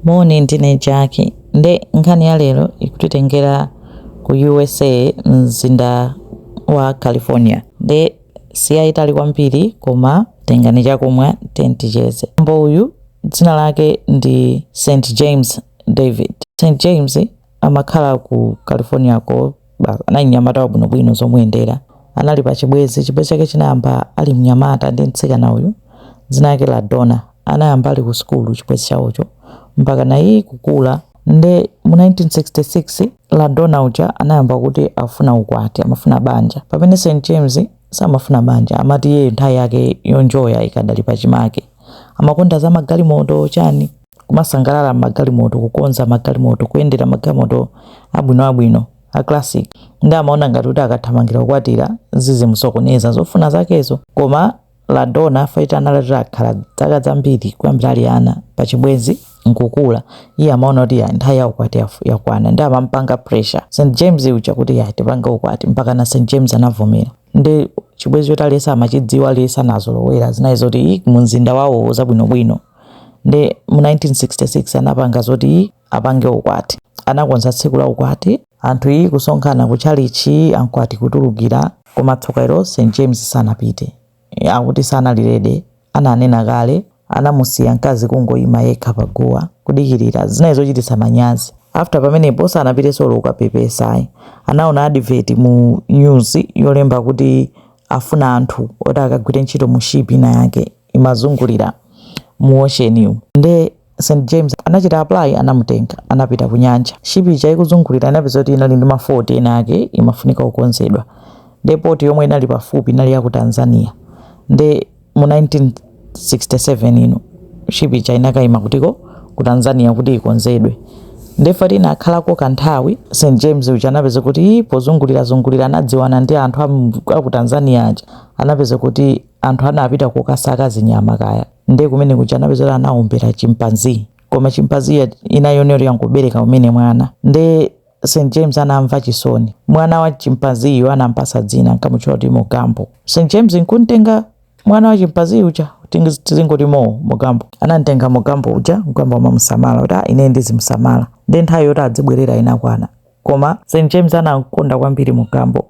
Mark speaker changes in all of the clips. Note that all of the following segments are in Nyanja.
Speaker 1: Moni ndine Jaki nde nkhani ya lero ikutitengera ku usa mzinda wa California nde siyaitali kwambiri koma tengani chakumwa tiye ticheze. Bambo uyu dzina lake ndi St James David. St James amakhala ku California ko ba- anali mnyamata wabwinobwino zomuyendera anali pa chibwenzi chibwenzi chake chinayamba ali mnyamata ndi mtsikana uyu dzina lake LaDonna anayamba ali ku sukulu chibwenzi chawocho mpaka naye kukula nde mu 1966 LaDonna uja anayamba kuti afuna ukwati amafuna banja pamene st james samafuna banja amati iye nthawi yake yonjoya ikadali pachimake amakonda za magalimoto chani kumasangalala m'magalimoto, kukonza magalimoto, kuyendera magalimoto abwinoabwino a classic, ndi amaona ngati kuti akathamangira kukwatira zizimusokoneza zofuna zakezo. Koma LaDonna after anali atakhala zaka dzambiri kuyambira ali ana pa chibwenzi nkukula iye amaona kuti ya nthawi ya ukwati yafu- yakwana nde amampanga pressure St James uja kuti ya tipange ukwati mpaka na St James anavomera ndi chibwenzi choti aliyense amachidziwa aliyense anazolowera zinali zoti "Ih, mu mzinda wawo zabwinobwino ndi mu 1966 anapanga zoti apange ukwati anakonza tsiku la ukwati anthu iyi kusonkhana ku tchalitchi akwati kutulukira koma tsoka ilo st james sanapite akuti sanali ready ananena kale anamusiya mkazi kungoyima yekha pa guwa kudikirira zinali zochititsa manyazi after pamenepo sanapitenso olo kapepesa ayi anaona advert mu news yolemba kuti afuna anthu oti akagwire ntchito mu ship ina yake imazungulira mu ocean yu nde St James anachita apply anamutenga anapita ku nyanja ship ija ikuzungulira inapezeka kuti inali ndi mafoti ena ake imafunika kukonzedwa nde poti yomwe inali pafupi inali ya ku Tanzania nde mu 1967 ino ship ija inakaima ku doko ku Tanzania kuti ikonzedwe nde after anakhalako kanthawi st james uja anapeza kuti pozungulirazungulira anadziwana ndi anthu a ku tanzania aja anapeza kuti anthu anapita kukasaka zinyama kaya nde kumene kuja anapeza kuti anaombera chimpanzee koma chimpanzee inaoneka yangobereka kumene mwana nde st james anamva chisoni mwana wa chimpanzee yo anampatsa dzina nkamutchula kuti mogambo st james nkuntenga mwana wa chimpanzee uja tingi- tizingoti moo mogambo anamtenga mogambo uja nkuyamba kumamusamala kuti "Ah, ine ndizimusamala nde nthawi yoti adzibwerera inakwana koma st james anamkonda kwambiri mogambo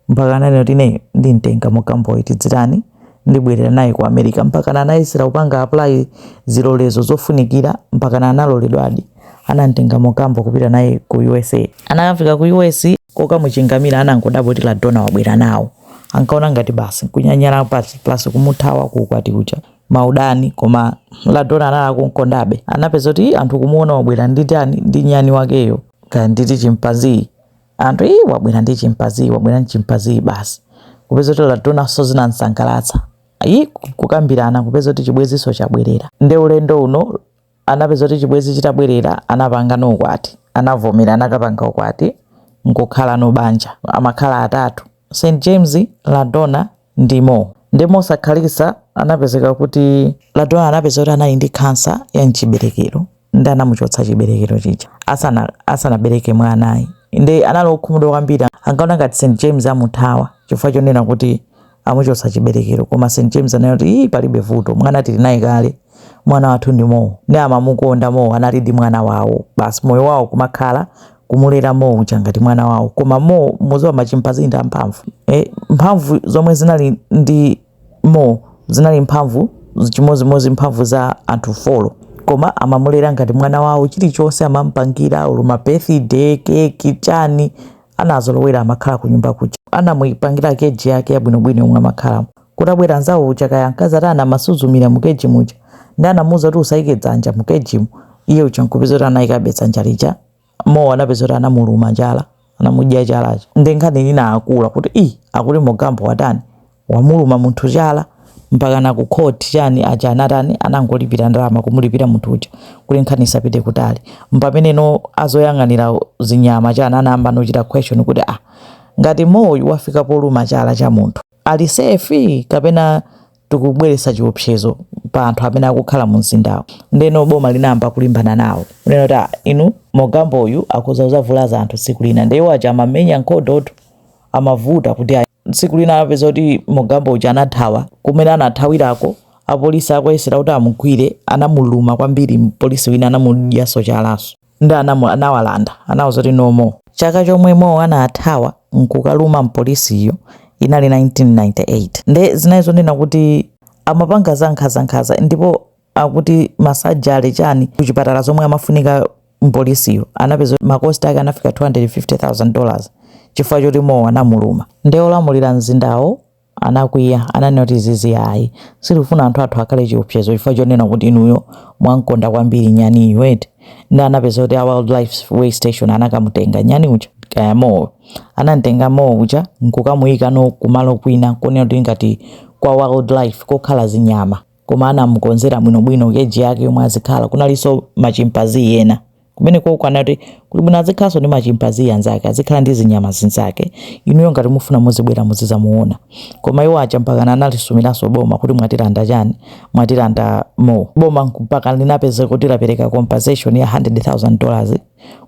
Speaker 1: mpaka ananena kuti ineyo ndimtenga Mogamboyi tidzitani ndibwerera naye ku america mpaka anayesera kupanga apply zilolezo zofunikira mpaka analoledwadi anamtenga Mogambo kupita naye ku usa anakafika ku us kokamuchingamira anangodabwa kuti ladona wabwera nawo ankaona ngati basi kunyanyala pasi plus kumuthawa ku ukwati uja maudani koma ladona anali akumkondabe anapeza kuti anthu kumuona wabwera ndi tani ndi nyani wakeyo kaya nditi chimpanziyi anthu iyi wabwera ndi chimpaziyi wabwera ndi chimpaziyi basi kupeza kuti LaDonanso zinamsangalatsa ayi kukambirana kupeza kuti chibwenzinso chabwerera nde ulendo uno anapeza kuti chibwenzi chitabwerera anapanga no ukwati anavomera anakapanga ukwati nkukhala no banja amakhala atatu st james ladona ndi Mo. Ndiye mosakhalitsa anapezeka kuti LaDona anapeza kuti anali ndi khansa ya mchiberekero ndi anamuchotsa chiberekero chija asana- asanabereke mwanayi nde anali okhumudwa kwambiri ankaona ngati St James amuthawa chifukwa chonena kuti amuchotsa chiberekero koma St James anati kuti ii palibe vuto mwana tili naye kale mwana wathu ndi Mo nde amamukonda Mo analidi mwana wawo basi moyo wawo kumakhala kumulera Mo uja ngati mwana wawo koma Mo mudziwa machimpazi ndi amphamvu e, mphamvu zomwe zinali ndi Mo zinali mphamvu chimodzimodzi mphamvu za anthu folo koma amamulera ngati mwana wawo chilichonse amampangira olo ma birthday keki chani anazolowera amakhala ku nyumba kuja anamupangira keji yake yabwinobwino yomwe amakhalamo kutabwera nzawo uja kaya mkazi ati anamasuzumira mu keji muja nde anamuuza kuti usaike dzanja mu kejimu iye uja nkupeza kuti anaikabe dzanja lija Mo anapeza kuti anamuluma chala anamudya chalacho nde nkhani inakula kuti i akuti mogambo watani wamuluma munthu chala mpaka na ku court chani aja anatani anangolipira ndalama kumulipira munthu uja kuti nkhani isapite kutali mpamene no azoyang'anira zinyama chani anayamba nochita question kuti ah ngati Moyu wafika poluma chala cha munthu ali safe kapena tikubweretsa chiopsezo pa anthu amene akukhala mu mzindawo ndeno boma linayamba kulimbana nawo kunena kuti a inu mogambo uyu akuza uzavulaza anthu tsiku lina nde iwo aja amamenya nkhondotu amavuta kuti ayi. tsiku lina anapeza kuti mogambo uja anathawa kumene anathawirako apolisi akuyesera kuti amugwire anamuluma kwambiri mpolisi wina anamudyanso chalanso nde anamu anawalanda anawauza kuti no Mo. Chaka chomwe Mo anathawa nkukaluma mpolisiyo inali 1998 nde zinali zonena kuti amapanga za nkhaza-nkhaza ndipo akuti ma surgery chani ku chipatala zomwe amafunika mpolisiyo anapeza kuti ma cost ake anafika 250,000 dollars chifukwa choti Mo anamuluma nde olamulira mzindawo anakwiya. Ananena kuti, Izizi ayi. Sitifuna anthu athu akhale chiopsezo chifukwa chonena kuti inuyo mwam'konda kwambiri nyaniyu eti. Ndiye anapeza kuti a Wildlife Way Station anakamutenga nyani uja, kaya Moe. Anam'tenga Moe uja n'kukamuyika no kumalo kwina konena kuti ngati kwa wildlife, kokhala zinyama. Koma anamukonzera bwinobwino keji yake yomwe azikhala. Kunalinso ma Chimpanzee ena. Kumeneko uko anati, kuli bwino azikhalanso ndi machimpanzee anzake, azikhala ndi zinyama zinzake. Inuyo ngati mufuna muzibwera muzizamuona. Koma iwo aja mpakana analisumiranso boma kuti mwatilanda chani? Mwatilanda Moe. Boma mpakana linapezeka kuti lapereka compensation ya 100,000 dollars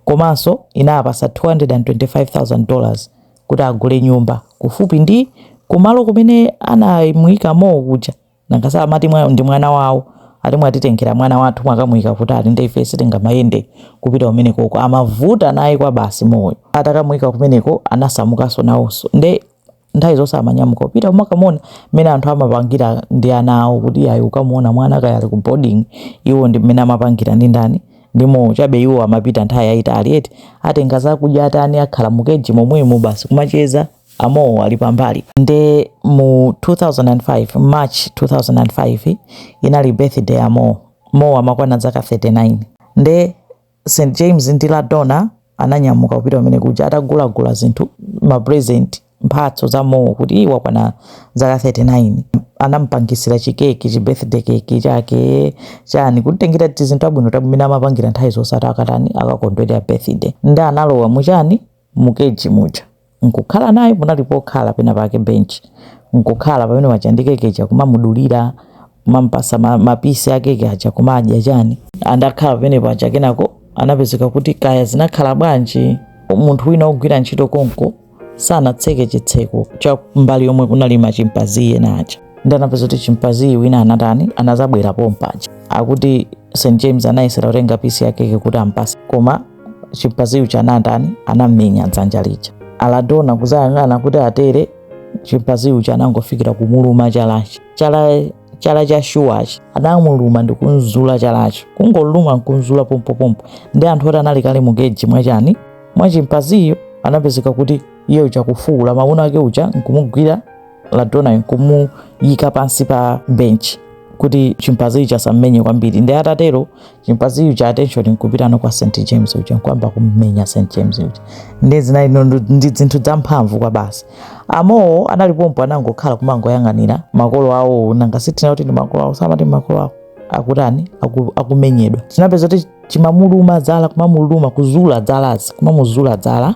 Speaker 1: komanso inawapasa 225,000 dollars kuti agule nyumba kufupi ndi kumalo kumene anamuika Moe kuja. nanga si amati mwa, ndi mwana wawo ati mwatitengera mwana wathu mwakamuika kutali nde ife sitingamayende kupita kumenekoko amavuta naye kwabasi Moeyo atakamuika kumeneko anasamukanso nawonso nde nthawi zonse amanyamuka kupita kumakamuona mmene anthu amapangira ndi ana awo kuti ayi kukamuona mwana kaya ali ku boarding iwo ndi mmene amapangira ndi ndani ndi Moe chabe iwo amapita nthawi yayitali eti atenga zakudya atani akhala mukeji momwemo basi kumacheza a Moe ali pambali nde mu 2005 march 2005 inali birthday ya Moe Moe amakwana zaka 39 nde st james ndi LaDonna ananyamuka kupita kumene kuja atagulagula zinthu ma present mphatso za Moe kuti wakwana zaka 39 anampangisira chikeki chi birthday keki chake chani kutengera tizinthu tabwino tabwino mmene amapangira nthawi zonse ati akatani akakondwerera birthday nde analowa muchani mu keji muja nkukhala naye munali pokhala pena pake bench nkukhala pamene paja ndi keke ija kumamudulira kumampasa ma, mapisi a keke aja kumadya chani atakhala pamene paja kenako anapezeka kuti kaya zinakhala bwanji munthu wina ogwira ntchito konko sanatseke chitseko cha mbali yomwe kunali machimpanzee ena aja nde anapeza kuti chimpanzee wina anatani anazabwera pompaja akuti St James anayesera kutenga pisi yakeke kuti ampase koma chimpanzee uja anatani anamenya dzanja lija. A LaDonna kuzayang'ana kuti atere chimpanzee uja anangofikira kumuluma chalachi chala chala cha shuwachi anamuluma ndi kunzula chalacho kungoluma nkunzula pompopompo nde anthu oti anali kale mukeji mwachani mwa chimpanzeeyo anapezeka kuti iye uja kufuula mamuna wake uja nkumugwira LaDonnayo nkumuyika pansi pa benchi kuti chimpanzee uja asammenye kwambiri nde atatero chimpanzee uja attention nkupitano kwa st james uja nkuyamba kummenya st james uja nde zinali ndi zinthu zamphamvu kwabasi a Moe anali pompo anangokhala kumangoyang'anira makolo awo nanga sitina kuti ndi makolo awo samati makolo awo akutani aku- akumenyedwa tinapeza kuti chimamuluma dzala kumamuluma kuzula dzalazi kumamuzula dzala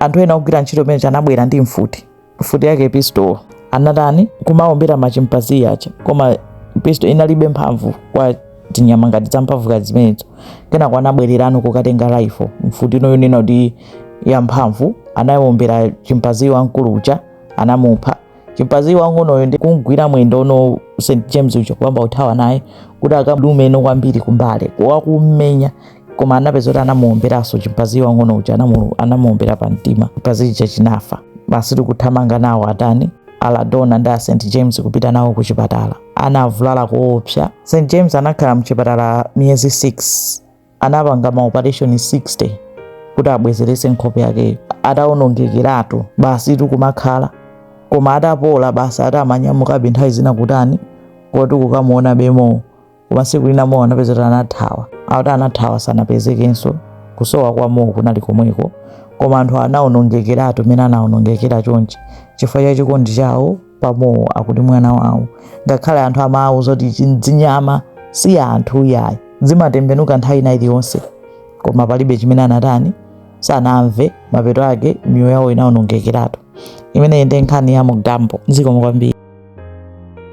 Speaker 1: anthu ena ogwira ntchito pamene anabwera ndi mfuti mfuti yake pistol anatani kumaombera machimpanzi aja koma pistol inalibe mphamvu kwa tinyama ngati zamphamvu ngati zimenezo kenako anabwererano kukatenga rifle mfuti ino yonena kuti ya mphamvu anayombera chimpanzi wamkulu uja anamupha chimpanzi wang'onoyo ndi kumgwira mwendo st james uja kuyamba kuthawa naye kuti akalume meno kwambiri kumbali wakummenya koma anapeza kuti anamuomberanso chimpanzi wang'ono uja anamuombera pa mtima chimpanzi chija chinafa basi ndi kuthamanga nawo atani aladona ndi a st james kupita nawo ku chipatala anavulala koopsa st james anakhala mchipatala miyezi 6 anapanga maopareshoni 60 kuti abwezerese nkhope yakeyo ataonongekeratu basi ndi kumakhala koma atapola basi adamanyamukabe nthawi zina kutani koti kukamuona be moe koma tsiku lina moe anapeza kuti anathawa akuti anathawa sanapezekenso kusowa kwa moe kunali komweko koma anthu anaonongekeratu mene anaonongekera chonchi chifukwa cha chikondi chawo pa moe akuti mwana wawo ngakhale anthu amawauza kuti zinyama si anthu yayi zimatembenuka nthawi ina iliyonse koma palibe chimene anatani sanamve mapeto ake miyoyo yawo inaonongekeratu imeneyi ndi nkhani ya mugambo zikomo kwambiri